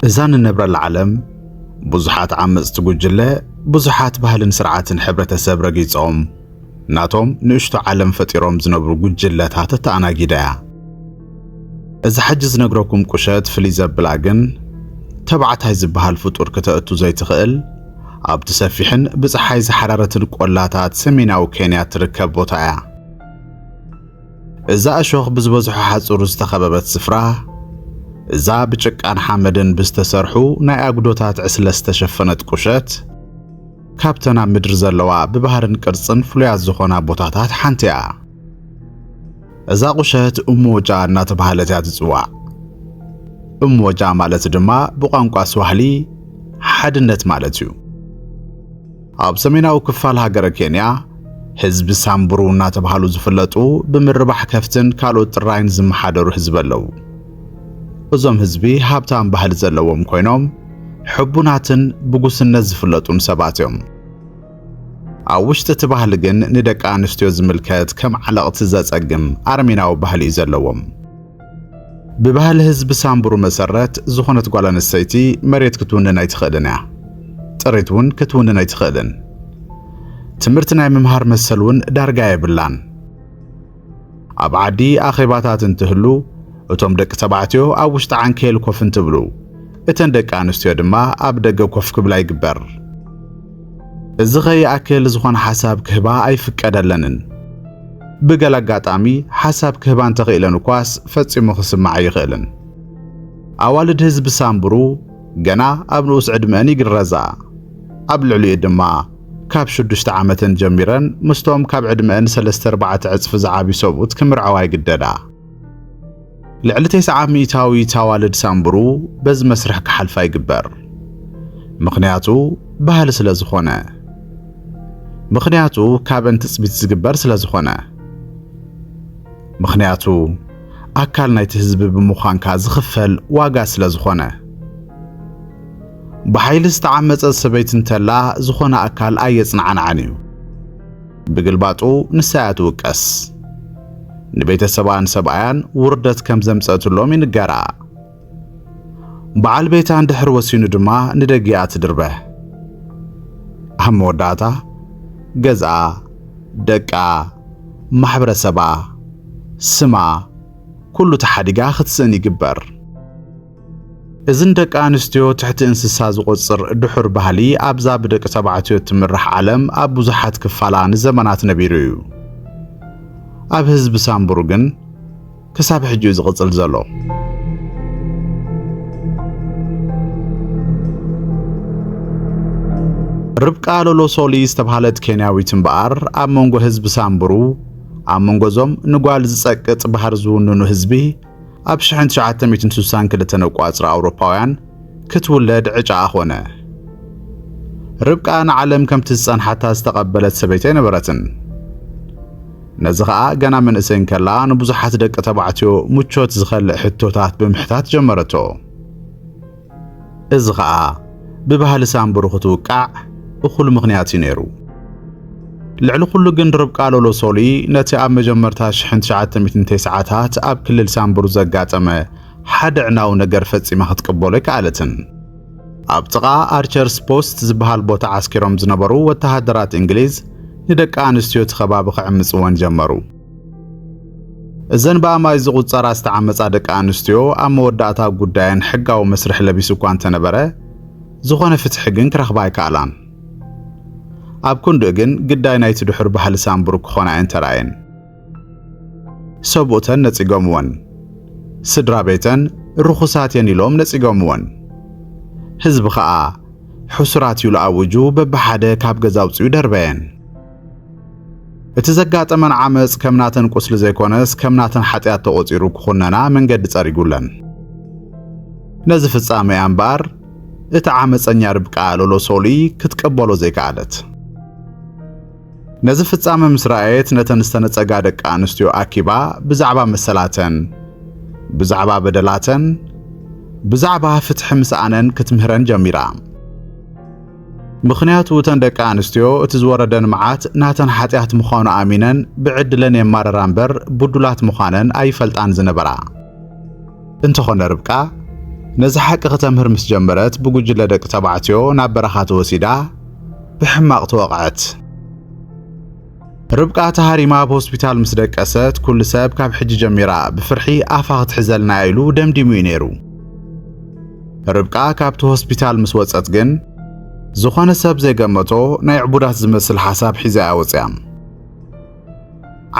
እዛ ንነብረላ ዓለም ብዙሓት ዓመጽቲ ጉጅለ ብዙሓት ባህልን ስርዓትን ሕብረተሰብ ረጊጾም ናቶም ንእሽቶ ዓለም ፈጢሮም ዝነብሩ ጉጅለታት እተኣናጊዳ እያ። እዚ ሕጂ ዝነግረኩም ቁሸት ፍልይ ዘብላ ግን ተባዕታይ ዝበሃል ፍጡር ክተእቱ ዘይትኽእል ኣብቲ ሰፊሕን ብጸሓይ ዝሓረረትን ቆላታት ሰሜናዊ ኬንያ እትርከብ ቦታ እያ። እዛ እሾኽ ብዝበዝሖ ሓጹር ዝተኸበበት ስፍራ እዛ ብጭቃን ሓመድን ብዝተሰርሑ ናይ ኣጉዶታት ዕስለ ዝተሸፈነት ቁሸት ካብተን ኣብ ምድሪ ዘለዋ ብባህርን ቅርጽን ፍሉያት ዝኾና ቦታታት ሓንቲ እያ። እዛ ቁሸት እሞወጫ እናተባህለት እያ ትጽዋዕ። እሞወጫ ማለት ድማ ብቋንቋ ስዋህሊ ሓድነት ማለት እዩ። ኣብ ሰሜናዊ ክፋል ሃገረ ኬንያ ህዝቢ ሳምቡሩ እናተባህሉ ዝፍለጡ ብምርባሕ ከፍትን ካልኦት ጥራይን ዝመሓደሩ ህዝቢ ኣለዉ። እዞም ህዝቢ ሃብታም ባህሊ ዘለዎም ኮይኖም ሕቡናትን ብጉስነት ዝፍለጡን ሰባት እዮም። ኣብ ውሽጢ እቲ ባህሊ ግን ንደቂ ኣንስትዮ ዝምልከት ከም ዓለቕቲ ዘጸግም ኣረሜናዊ ባህሊ እዩ ዘለዎም። ብባህሊ ህዝቢ ሳምቡሩ መሰረት ዝኾነት ጓል ኣንስተይቲ መሬት ክትውንን ኣይትኽእልን እያ። ጥሪት እውን ክትውንን ኣይትኽእልን። ትምህርቲ ናይ ምምሃር መሰል እውን ዳርጋ የብላን። ኣብ ዓዲ ኣኼባታት እንትህሉ እቶም ደቂ ተባዕትዮ ኣብ ውሽጢ ዓንኬል ኮፍ እንትብሉ እተን ደቂ ኣንስትዮ ድማ ኣብ ደገ ኮፍ ክብላ ይግበር። እዚ ከይኣክል ዝኾነ ሓሳብ ክህባ ኣይፍቀደለንን። ብገለ ኣጋጣሚ ሓሳብ ክህባ እንተኽኢለን እኳስ ፈጺሙ ክስማዕ ኣይኽእልን። ኣዋልድ ህዝቢ ሳምብሩ ገና ኣብ ንኡስ ዕድመአን ይግረዛ፣ ኣብ ልዕሊኡ ድማ ካብ ሽዱሽተ ዓመተን ጀሚረን ምስቶም ካብ ዕድመአን ሰለስተ ኣርባዕተ ዕጽፊ ዝዓብዩ ሰብኡት ክምርዐዋ ይግደዳ። ልዕሊ ተስዓ ሚእታዊት ኣዋልድ ሳምቡሩ በዚ መስርሕ ክሓልፋ ይግበር። ምኽንያቱ ባህሊ ስለ ዝኾነ። ምኽንያቱ ካብን ትጽቢት ዝግበር ስለ ዝኾነ። ምኽንያቱ ኣካል ናይቲ ህዝቢ ብምዃንካ ዝኽፈል ዋጋ ስለ ዝኾነ። ብሓይሊ ዝተዓመጸት ሰበይቲ እንተላ ዝኾነ ኣካል ኣየጽናዕናዕን እዩ። ብግልባጡ ንሳ እያ ትውቀስ። ንቤተሰባን ሰብኣያን ውርደት ከም ዘምጸእትሎም ይንገራ። በዓል ቤታ እንድሕር ወሲኑ ድማ ንደጊኣ ትድርበህ። ኣብ መወዳእታ ገዝኣ፣ ደቃ፣ ማሕበረሰባ፣ ስማ ኩሉ ተሓዲጋ ክትስእን ይግበር። እዚ ንደቂ ኣንስትዮ ትሕቲ እንስሳ ዝቖጽር ድሑር ባህሊ ኣብዛ ብደቂ ተባዕትዮ እትምራሕ ዓለም ኣብ ብዙሓት ክፋላ ንዘመናት ነቢሩ እዩ። ኣብ ህዝቢ ሳምቡር ግን ክሳብ ሕጂ እዩ ዝቕጽል ዘሎ። ርብቃ ሎሎሶሊ ዝተባህለት ኬንያዊት እምበኣር ኣብ መንጎ ህዝቢ ሳምቡሩ ኣብ መንጎ እዞም ንጓል ዝጸቅጥ ባህር ዝውንኑ ህዝቢ ኣብ ሽሕን ትሽዓተ ሚእትን ስሳን ክልተን ኣቋጽራ ኣውሮፓውያን ክትውለድ ዕጫኣ ኮነ። ርብቃ ንዓለም ከምቲ ዝጸንሓታ ዝተቐበለት ሰበይቲ ኣይነበረትን። ነዚ ኸኣ ገና መንእሰይ እንከላ ንብዙሓት ደቂ ተባዕትዮ ምቾት ዝኸልእ ሕቶታት ብምሕታት ጀመረቶ። እዚ ኸኣ ብባህሊ ሳንቡሩ ክትውቃዕ እኹል ምኽንያት እዩ ነይሩ። ልዕሊ ኩሉ ግን ርብቃ ሎሎ ሶሊ ነቲ ኣብ መጀመርታ ሽሕን ትሽዓተ ሚእትን ተስዓታት ኣብ ክልል ሳንቡሩ ዘጋጠመ ሓደ ኣዕናዊ ነገር ፈጺማ ክትቅበሎ ኣይከኣለትን። ኣብ ጥቓ ኣርቸርስ ፖስት ዝበሃል ቦታ ዓስኪሮም ዝነበሩ ወተሃደራት እንግሊዝ ንደቂ ኣንስትዮ እቲ ከባቢ ክዕምጽወን ጀመሩ። እዘን ብኣማይ ዝቑጸራ ዝተዓመጻ ደቂ ኣንስትዮ ኣብ መወዳእታ ጉዳየን ሕጋዊ መስርሕ ለቢሱ እኳ እንተነበረ ዝኾነ ፍትሒ ግን ክረኽባ ኣይከኣላን። ኣብ ክንድኡ ግን ግዳይ ናይቲ ድሑር ባህሊ ሳምቡር ክኾና እየን ተራእየን። ሰብኡተን ነጺጎምወን፣ ስድራ ቤተን ርኹሳት እየን ኢሎም ነጺጎምወን። ህዝቢ ኸኣ ሕሱራት ኢሉ ኣዊጁ በብሓደ ካብ ገዛ ኣውጺኡ ደርበየን። እቲ ዘጋጠመን ዓመፅ ከም ናተን ቁስሊ ዘይኮነስ ከም ናተን ሓጢኣት ተቖፂሩ ክኹነና መንገዲ ፀሪጉለን። ነዚ ፍጻመ እያ እምበኣር እቲ ዓመፀኛ ርብቃ ሎሎ ሶሊ ክትቀበሎ ዘይከኣለት። ነዚ ፍጻመ ምስ ረኣየት ነተን ዝተነጸጋ ደቂ ኣንስትዮ ኣኪባ ብዛዕባ መሰላተን፣ ብዛዕባ በደላተን፣ ብዛዕባ ፍትሒ ምስኣነን ክትምህረን ጀሚራ። ምኽንያቱ እተን ደቂ ኣንስትዮ እቲ ዝወረደን መዓት ናተን ሓጢኣት ምዃኑ ኣሚነን ብዕድለን የማረራ እምበር ብዱላት ምዃነን ኣይፈልጣን ዝነበራ። እንተኾነ ርብቃ ነዚ ሓቂ ክተምህር ምስ ጀመረት ብጉጅለ ደቂ ተባዕትዮ ናብ በረኻ ተወሲዳ ብሕማቕ ተወቕዐት። ርብቃ ተሃሪማ ኣብ ሆስፒታል ምስ ደቀሰት ኩሉ ሰብ ካብ ሕጂ ጀሚራ ብፍርሒ ኣፋ ክትሕዘልና እያ ኢሉ ደምዲሙ እዩ ነይሩ። ርብቃ ካብቲ ሆስፒታል ምስ ወጸት ግን ዝኾነ ሰብ ዘይገመቶ ናይ ዕቡዳት ዝመስል ሓሳብ ሒዛ እያ ወጽያ።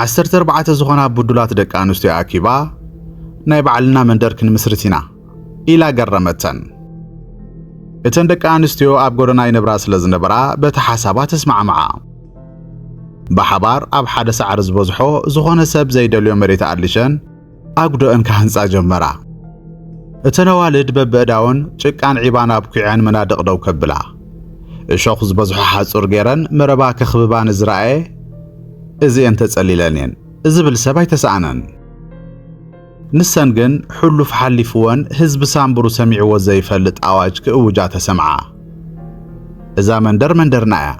ዓሰርተ ኣርባዕተ ዝኾና ብዱላት ደቂ ኣንስትዮ ኣኪባ ናይ ባዕልና መንደር ክንምስርት ኢና ኢላ ገረመተን። እተን ደቂ ኣንስትዮ ኣብ ጎደና ይነብራ ስለ ዝነበራ በቲ ሓሳባ ተስማዕምዓ። ብሓባር ኣብ ሓደ ሳዕሪ ዝበዝሖ ዝኾነ ሰብ ዘይደልዮ መሬት ኣሊሸን ኣጉዶአን ክሃንጻ ጀመራ። እተን ኣዋልድ በብእዳውን ጭቃን ዒባን ኣብኲዐን መናድቕ ደው ከብላ እሾኽ ዝበዝሖ ሓጹር ገይረን መረባ ከኽብባ ንዝረኣየ እዚኤን ተጸሊለን እየን ዝብል ሰብ ኣይተሰኣነን። ንሰን ግን ሕሉፍ ሓሊፍወን ህዝቢ ሳንብሩ ሰሚዕዎ ዘይፈልጥ ኣዋጅ ክእውጃ ተሰምዓ። እዛ መንደር መንደርና እያ።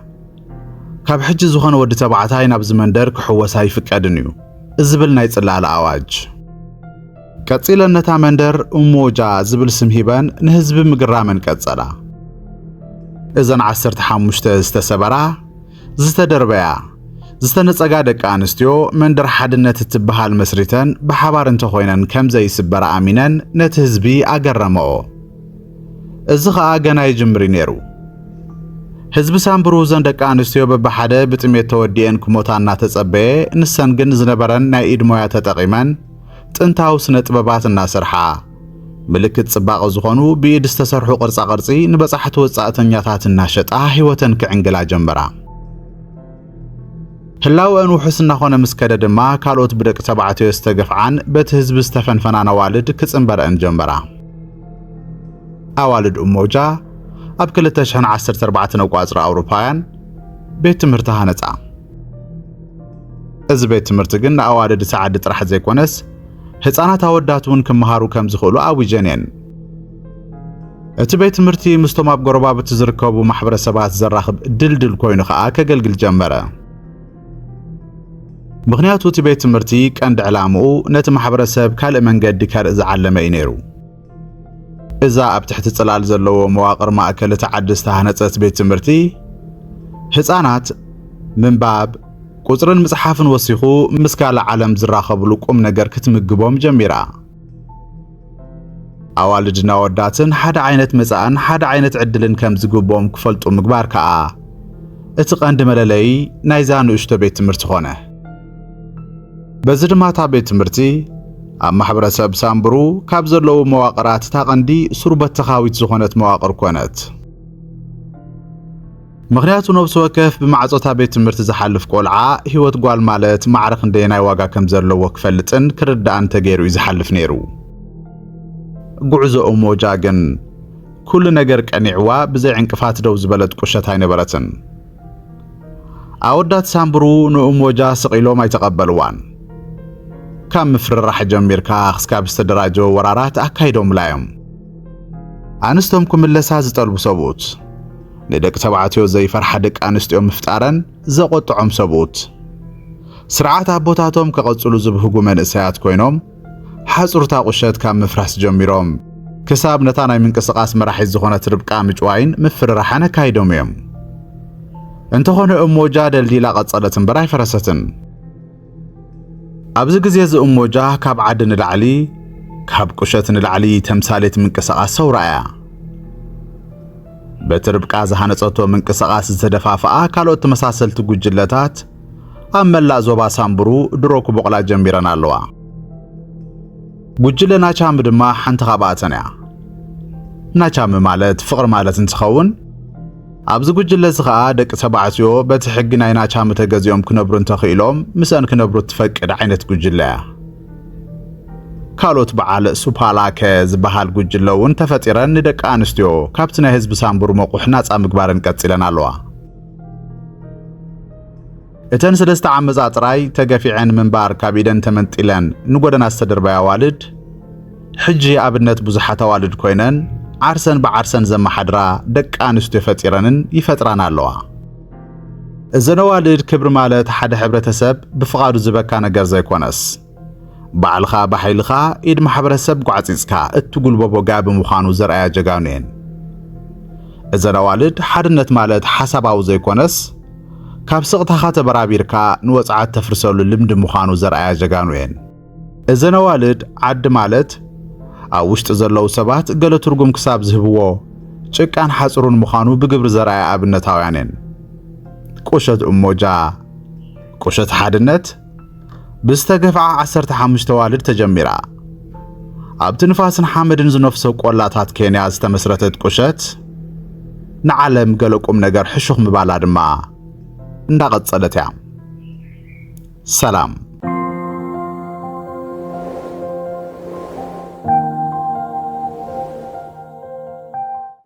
ካብ ሕጂ ዝኾነ ወዲ ተባዕታይ ናብዚ መንደር ክሕወስ ኣይፍቀድን እዩ ዝብል ናይ ጽላለ ኣዋጅ። ቀጺለን ነታ መንደር እሞጃ ዝብል ስም ሂበን ንህዝቢ ምግራመን ቀጸላ። እዘን ዓሰርተ ሓሙሽተ ዝተሰበራ ዝተደርበያ ዝተነጸጋ ደቂ ኣንስትዮ መንደር ሓድነት እትበሃል መስሪተን ብሓባር እንተኾይነን ከም ዘይስበራ ኣሚነን ነቲ ህዝቢ ኣገረመኦ። እዚ ኸኣ ገና ይጅምር ነይሩ። ህዝቢ ሳምብሩ እዘን ደቂ ኣንስትዮ በብሓደ ብጥሜት ተወዲኤን ክሞታ እናተጸበየ ንሰን ግን ዝነበረን ናይ ኢድ ሞያ ተጠቒመን ጥንታዊ ስነ ጥበባት እናሰርሓ ምልክት ጽባቐ ዝኾኑ ብኢድ ዝተሰርሑ ቅርጻ ቅርጺ ንበጻሕቲ ወጻእተኛታት እናሸጣ ህይወተን ክዕንግላ ጀመራ። ህላወአን ውሑስ እናኾነ ምስ ከደ ድማ ካልኦት ብደቂ ተባዕትዮ ዝተገፍዓን በቲ ህዝቢ ዝተፈንፈናን ኣዋልድ ክጽንበረአን ጀመራ። ኣዋልድ እሞጃ ኣብ 2014 ነቋጽሪ ኣውሮፓውያን ቤት ትምህርቲ ሃነጻ። እዚ ቤት ትምህርቲ ግን ንኣዋልድ ሰዓዲ ጥራሕ ዘይኮነስ ህፃናት ኣወዳት እውን ክመሃሩ ከም ዝኽእሉ ኣዊጀን እየን። እቲ ቤት ትምህርቲ ምስቶም ኣብ ጎረባብቲ ዝርከቡ ማሕበረሰባት ዘራኽብ ድልድል ኮይኑ ከዓ ከገልግል ጀመረ። ምክንያቱ እቲ ቤት ትምህርቲ ቀንዲ ዕላምኡ ነቲ ማሕበረሰብ ካልእ መንገዲ ከርኢ ዝዓለመ እዩ ነይሩ። እዛ ኣብ ትሕቲ ጽላል ዘለዎ መዋቕር ማእከል እቲ ዓዲ ዝተሃነጸት ቤት ትምህርቲ ህፃናት ምንባብ ቁፅርን ምጽሓፍን ወሲኹ ምስ ካልእ ዓለም ዝራኸብሉ ቁም ነገር ክትምግቦም ጀሚራ ኣዋልድና ወዳትን ሓደ ዓይነት መጻእን ሓደ ዓይነት ዕድልን ከም ዝግብኦም ክፈልጡ ምግባር ከኣ እቲ ቐንዲ መለለዪ ናይዛ ንእሽቶ ቤት ትምህርቲ ኾነ በዚ ድማ እታ ቤት ትምህርቲ ኣብ ማሕበረሰብ ሳምብሩ ካብ ዘለዉ መዋቕራት እታ ቐንዲ ሱር በተኻዊት ዝኾነት መዋቕር ኮነት። ምክንያቱ ነብሲ ወከፍ ብማዕጾታ ቤት ትምህርቲ ዝሓልፍ ቆልዓ ህይወት ጓል ማለት ማዕረ ክንደየናይ ዋጋ ከም ዘለዎ ክፈልጥን ክርዳእን ተገይሩ እዩ ዝሓልፍ ነይሩ። ጉዕዞ እሞጃ ግን ኩሉ ነገር ቀኒዕዋ ብዘይ ዕንቅፋት ደው ዝበለት ቁሸት ኣይነበረትን። ኣወዳት ሳምብሩ ንእሞጃ ስቒሎም ኣይተቐበልዋን። ካብ ምፍርራሕ ጀሚርካ ክስካብ ዝተደራጀወ ወራራት ኣካይዶምላ እዮም። ኣንስቶም ክምለሳ ዝጠልቡ ሰብኡት፣ ንደቂ ተባዕትዮ ዘይፈርሓ ደቂ ኣንስትዮ ምፍጣረን ዘቖጥዖም ሰብኡት፣ ስርዓት ኣቦታቶም ከቐጽሉ ዝብህጉ መንእሰያት ኮይኖም፣ ሓጹር'ታ ቁሸት ካብ ምፍራስ ጀሚሮም ክሳብ ነታ ናይ ምንቅስቓስ መራሒት ዝኾነት ርብቃ ምጭዋይን ምፍርራሕን ኣካይዶም እዮም። እንተኾነ እሞጃ ደልዲላ ቀጸለት እምበር ኣይፈረሰትን። ኣብዚ ግዜ እዚ እሞጃ ካብ ዓዲ ንላዕሊ ካብ ቁሸት ንላዕሊ ተምሳሌት ምንቅስቓስ ሰውራ እያ። በቲ ርብቃ ዝሃነጸቶ ምንቅስቓስ ዝተደፋፍኣ ካልኦት ተመሳሰልቲ ጉጅለታት ኣብ መላእ ዞባ ሳምቡሩ ድሮ ክቦቕላ ጀሚረን ኣለዋ። ጉጅለ ናቻሚ ድማ ሓንቲ ካብኣተን እያ። ናቻሚ ማለት ፍቕሪ ማለት እንትኸውን ኣብዚ ጉጅለ እዚ ኸኣ ደቂ ተባዕትዮ በቲ ሕጊ ናይ ናቻሚ ተገዚኦም ክነብሩ እንተኽኢሎም ምስአን ክነብሩ እትፈቅድ ዓይነት ጉጅለ እያ። ካልኦት በዓል ሱፓላከ ዝበሃል ጉጅለ እውን ተፈጢረን ንደቂ ኣንስትዮ ካብቲ ናይ ህዝቢ ሳምቡር መቑሕ ናጻ ምግባረን ቀጺለን ኣለዋ። እተን ሰለስተ ዓመጻ ጥራይ ተገፊዐን ምንባር ካብ ኢደን ተመንጢለን ንጎደና ዝተደርባያ ኣዋልድ ሕጂ ኣብነት ብዙሓት ኣዋልድ ኮይነን ዓርሰን ብዓርሰን ዘመሓድራ ደቂ ኣንስትዮ ፈጢረንን ይፈጥራን ኣለዋ። እዘን ኣዋልድ ክብሪ ማለት ሓደ ሕብረተሰብ ብፍቓዱ ዝበካ ነገር ዘይኮነስ ባዕልኻ ብሓይልኻ ኢድ ማሕበረሰብ ጓዕጺጽካ እትጉልበቦ ጋቢ ምዃኑ ዘርኣያ ጀጋኑ እየን። እዘን ኣዋልድ ሓድነት ማለት ሓሳባዊ ዘይኮነስ ካብ ስቕታኻ ተበራቢርካ ንወጽዓት ተፍርሰሉ ልምዲ ምዃኑ ዘርኣያ ጀጋኑ እየን። እዘን ኣዋልድ ዓዲ ማለት ኣብ ውሽጢ ዘለዉ ሰባት ገለ ትርጉም ክሳብ ዝህብዎ ጭቃን ሓጽሩን ምዃኑ ብግብሪ ዘርኣያ ኣብነታውያን እየን። ቁሸት እሞጃ፣ ቁሸት ሓድነት፣ ብዝተገፍዓ ዓሰርተ ሓሙሽተ ኣዋልድ ተጀሚራ ኣብቲ ንፋስን ሓመድን ዝነፍሶ ቆላታት ኬንያ ዝተመስረተት ቁሸት ንዓለም ገለ ቁም ነገር ሕሹኽ ምባላ ድማ እንዳቐጸለት እያ። ሰላም